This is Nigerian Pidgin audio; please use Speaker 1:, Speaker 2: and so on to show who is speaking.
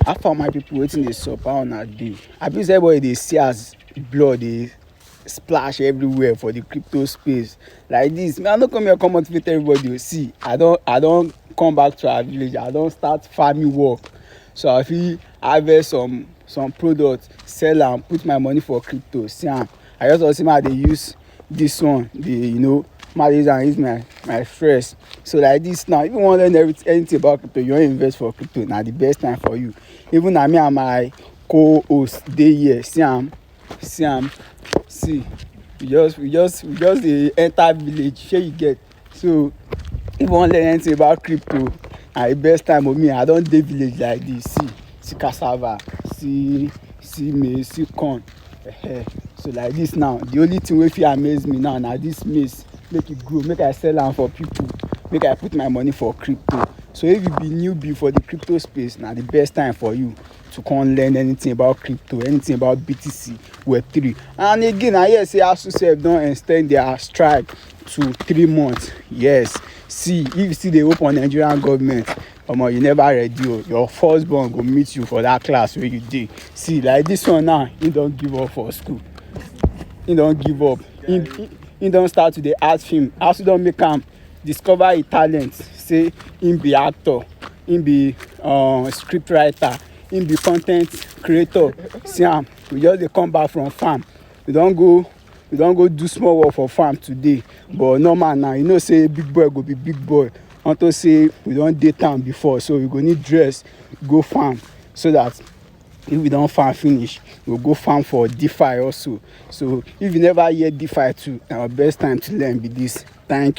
Speaker 1: How far my people wetin dey sup how una dey I be say everybody dey see as blood dey splash everywhere for the crypto space like this me I no come here come motivate everybody o see I don I don come back to our village I don start farming work so I fit harvest some some product sell am put my money for crypto see am i just want to see my they use this one the you know my use and use my my fresh so like this now if you want to learn everything anything about crypto you want to invest for crypto now the best time for you even na me and my co-host dey here see am see am see we just we just we just dey enter village shey you get so if you wan learn anything about crypto na the best time of me i don dey village like this see see cassava see see maize see corn uh-huh. so like this now the only thing wey fit amaze me now na this maize make e grow make i sell am for people make i put my money for crypto so if you be newbie for the crypto space na the best time for you to come learn anything about crypto anything about btc web3 and again i hear say asu sef don extend their strike to three months yes see if you still dey hope on nigerian government omo you never ready o oh. your first born go meet you for that class wey you dey see like this one now he don give up for school he don give up he he, he don start to dey act film as he don make am discover him talent say him be actor him be um, script writer him be content creator see am we just dey come back from farm we don go we don go do small work for farm today but normal now you know say big boy go be big boy unto say we don dey town before so we go need dress go farm so that if we don farm finish we go farm for defi also so if you never hear defi too na our best time to learn be this thank you.